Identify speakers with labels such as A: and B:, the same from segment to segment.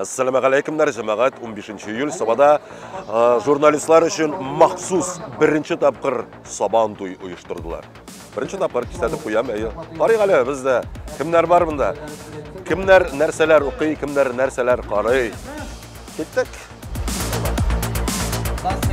A: Әссәламәгаләйкемнәр, җәмәгать, 15 июль Сабада журналистлар өчен махсус беренче тапкыр Сабан туй оештырдылар. Беренче тапкыр кисәтеп куям, әйе. Карыйк әле бездә кемнәр бар монда? Кемнәр нәрсәләр укый, кемнәр нәрсәләр карый? Киттек. Класс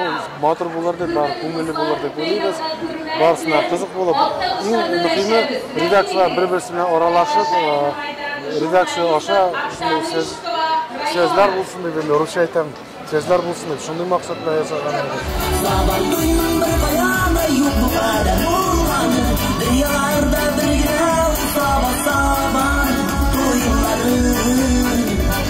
B: Ул матур булыр дип, бар күңелле булыр дип уйлыйбыз. Барысына кызык булып, иң мөһиме редакцияләр бер-берсе белән аралашып, э, редакция аша шундый сөз сүзләр булсын дип, инде русча әйтәм, сүзләр булсын дип, шундый максат белән ясаган идек.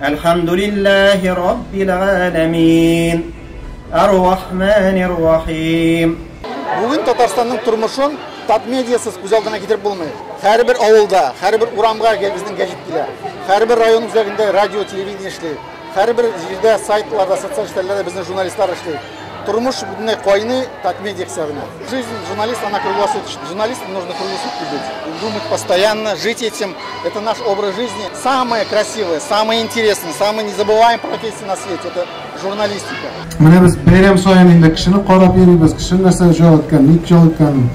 C: Әлхәмдүлилләһи раббил галәмин. Ар-Рахманир Рахим. Бүген
B: Татарстанның тормышын Татмедиасыз күз алдына китереп булмый. Һәрбер авылда, һәрбер урамга безнең гәҗит килә. Һәрбер район үзәгендә радио, телевидение эшли. Һәрбер җирдә сайтларда, социаль челтәрләрдә безнең журналистлар эшли. Тормыш бөтенләй кайный, татмин ексә генә. Жизнь журналист, она круглосуточная. Журналист нужно круглосутки быть. Думать постоянно, жить этим. Это наш образ жизни. Самое красивое, самое интересное, самое незабываемое профессия на свете. Это журналистика. Менә без бәйрәм
D: саен инде кешене карап йөрибез, кеше нәрсә җал иткән, ник җал иткән,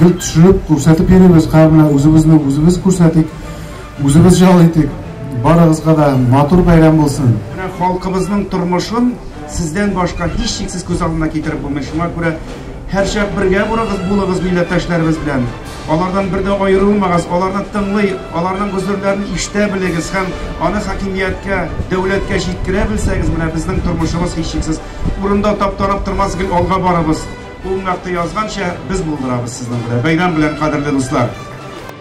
D: гел төшереп, күрсәтеп йөрибез, кабына үзебезне үзебез күрсәтик, үзебез җал итик. Барыгызга да матур бәйрәм булсын. Халкыбызның
E: тормышын Сездән башка һичшиксез күз алдына китереп булмый, шуңа күрә һәрчак бергә бурыгыз, булыгыз милләттәшләребез белән. Алардан бер дә аерылмагыз, аларны тыңлый, аларның гозерләрен ишетә белегез һәм аны хакимияткә, дәүләткә җиткерә белсәгез, менә безнең тормышыбыз һичшиксез урында таптанып тормас, гел алга барыбыз. Ул мәкте язганча, без булдырабыз сезнең белән. Бәйрәм белән, кадерле дуслар!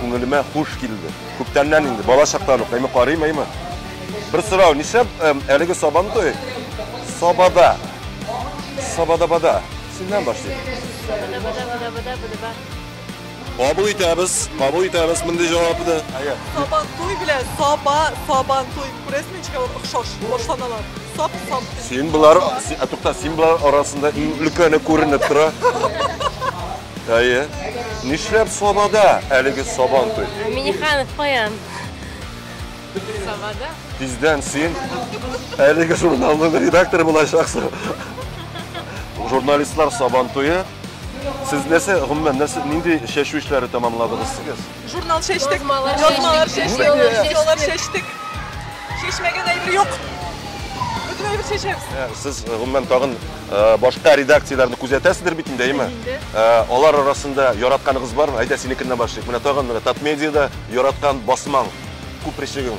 A: Күңелемә хуш килде. Күптәннән инде, бала чактан ук, әйме карыйм, әйме. Бер сорау, нишләп әлеге Сабантуй Сабада? Сабада-бада. Синнән башлыйм. Сабада-бада-бада-бада-бада-бада. Кабул итәбез, кабул итәбез мондый җавапны. Сабантуй
F: белән Саба, Сабантуй. Күрәсең ничек алар охшаш башланалар. Саб, саб. Син болар,
A: ә тукта, син болар арасында иң өлкәне күренеп тора. Әйе. Нишләп Сабада әлеге сабан туй? Миниханов каян?
G: Сабада. Тиздән син
A: әлеге журналның редакторы булачаксың. Журналистлар сабан туе. Сез нәрсә, гомумән, нәрсә, нинди чәчү эшләре тәмамладыгыз сез? Журнал
F: чәчтек, язмалар чәчтек, язмалар чәчтек. Чәчмәгән әйбер юк. Бөтен әйбер чәчәбез. Ә, Сез, э, гомумән, тагын
A: э, башка редакцияләрне күзәтәсездер бит инде, әйме? Э, Алар арасында яратканыгыз бармы? Әйдә, синекеннән башлыйк. Менә тагын менә Татмедиада яраткан басмаң, күп речегең.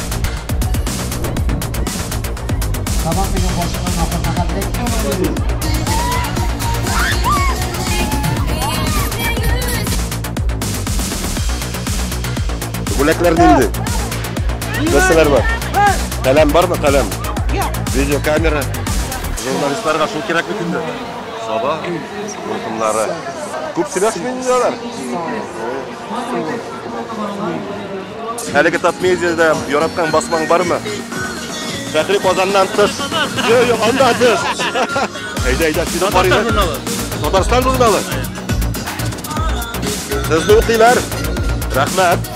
A: Бүләкләр нинди? Нәрсәләр бар? Каләм бармы, каләм? Видеокамера. Журналистларга шул кирәк бит инде. Саба, рухымнары. Күп сөйләшмәйнеләр. Әлеге топ-медиада яраткан басмаң бармы? Фәхри Казаннан тыш. Йо, йо, анда тыш. Әйдә, әйдә, сине карыйбыз. Татарстан журналы. Сезне укыйлар. Рәхмәт.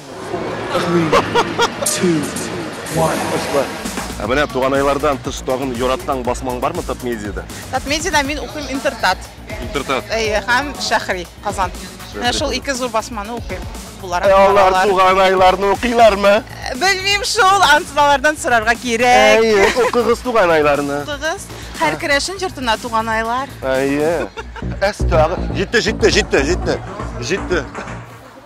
C: Ә менә
A: туганайлардан тыш тагын яраткан басмаң бармы Татмедиада? Татмедиада мин
H: укыйм Интертат. Интертат. Әйе,
A: һәм Шәхри,
H: Казан. Менә шул ике зур басманы укыйм. Буларак Ә алар баралар. туганайларны
A: укыйлармы? Белмим шул,
H: ансызалардан сорарга кирәк. Әйе, укыгыз туганайларны.
A: Укыгыз. Һәр
H: керәшен йортына туганайлар. Әйе.
A: Әс тагы. Җитте, җитте, җитте, җитте. Җитте.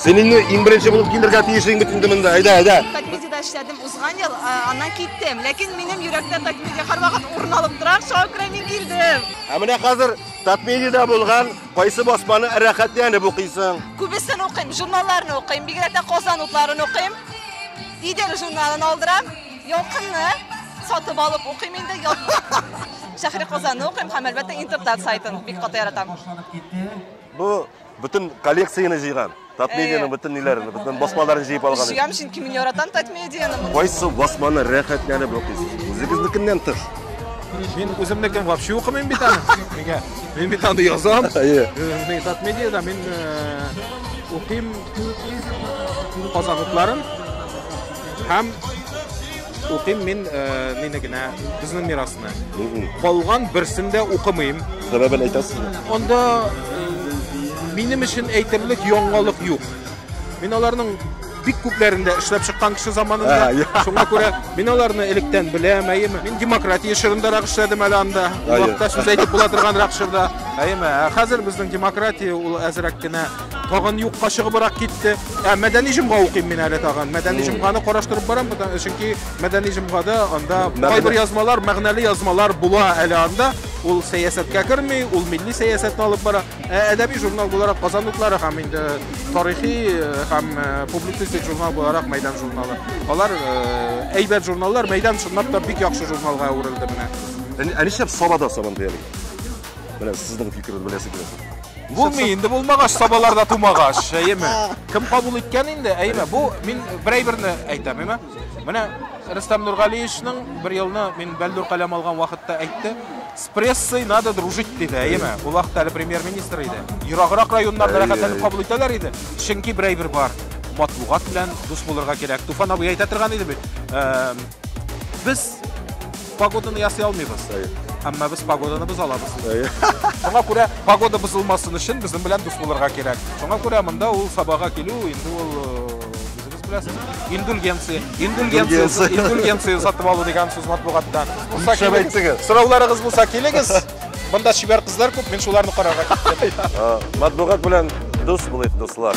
A: Сен инде иң беренче булып килергә тиешлең бит инде монда. Әйдә, әйдә. Такмедида эшләдем
H: узган ел, аннан киттем. Ләкин минем йөрәктә Такмедия һәрвакыт урын алып тора. Шуңа күрә мин килдем. Ә менә хәзер
A: Такмедида булган кайсы басманы рәхәтләнеп укыйсың? Күбесен укыйм,
H: журналларны укыйм, бигрәк тә Казан утларын укыйм. Идел журналын алдырам, Ялкынны сатып алып укыйм инде. Шәһри Казанны укыйм һәм әлбәттә интертат сайтын бик каты яратам.
A: Бу бөтен коллекцияне җыйган. Татмедианың бөтен ниләрен, бөтен басмаларын җыеп алган. Җыям, чөнки мин яратам
H: Татмедианы. Кайсы басманы
A: рәхәтләнеп укыйсыз? Үзегезнекеннән тыш. Мин
I: үземнекен вообще укымыйм бит аны. Нигә? Мин бит аны язам. Әйе. Мин Татмедиада мин укыйм Казан утларын һәм укыйм мин э, мине генә безнең мирасны. Калган берсен дә укымыйм. Сәбәбен әйтәсезме?
A: Анда
I: э, минем өчен әйтерлек яңалык юк. Мин аларның бик күпләрендә эшләп чыккан кеше заманында. Шуңа күрә мин аларны электән беләм, әйеме? Мин демократия чорындарак эшләдем әле анда. Ул вакытта сүз әйтеп була торганрак чорда. Әйеме? Ә хәзер безнең демократия ул әзрәк кенә тагын юкка чыгыбрак китте. Ә мәдәни җомга укыйм мин әле тагын. Мәдәни җомганы караштырып барам, потому- чөнки мәдәни җомгада анда Мәгънә- кайбер язмалар, мәгънәле язмалар була әле анда. Ул сәясәткә керми, ул милли сәясәтне алып бара. Ә әдәби журнал буларак Казан утлары һәм инде тарихи э, һәм э, публицистик журнал буларак Мәйдан журналы. Алар э, әйбәт журналлар, Мәйдан чынлап та бик яхшы журналга әверелде менә. Ә ни- Ә нишләп
A: Сабада Сабантуй әле? Менә сезнең фикерегез беләсе килә. Булмый, инде
I: булмагач, сабалар да тумагач, әйеме? Кем кабул иткән инде, әйеме? Бу мин бер әйберне әйтәм, әйеме? Менә Рөстәм Нургалиевичның бер елны мин Бәлдүр каләм алган вакытта әйтте, с прессой надо дружить диде, әйеме? Ул вакытта әле премьер-министр иде. Ераграк районнарда рәхәтләнеп кабул итәләр иде, чөнки бер әйбер бар. Матбугат белән дус булырга кирәк. Туфан абый әйтә торган иде бит. Без Погоданы ясый алмыйбыз. Әмма без погоданы без алабыз. Шуңа күрә погода бозылмасын өчен безнең белән дус булырга кирәк. Шуңа күрә монда ул сабага килү инде ул үзегез беләсез. Индульгенция, индульгенция, индульгенция сатып алу дигән сүз матбугатта. Булса килегез. Сорауларыгыз булса килегез. Монда чибәр кызлар
A: күп, мин
I: шуларны
A: карарга киттем.
I: Матбугат белән дус булыйк,
A: дуслар.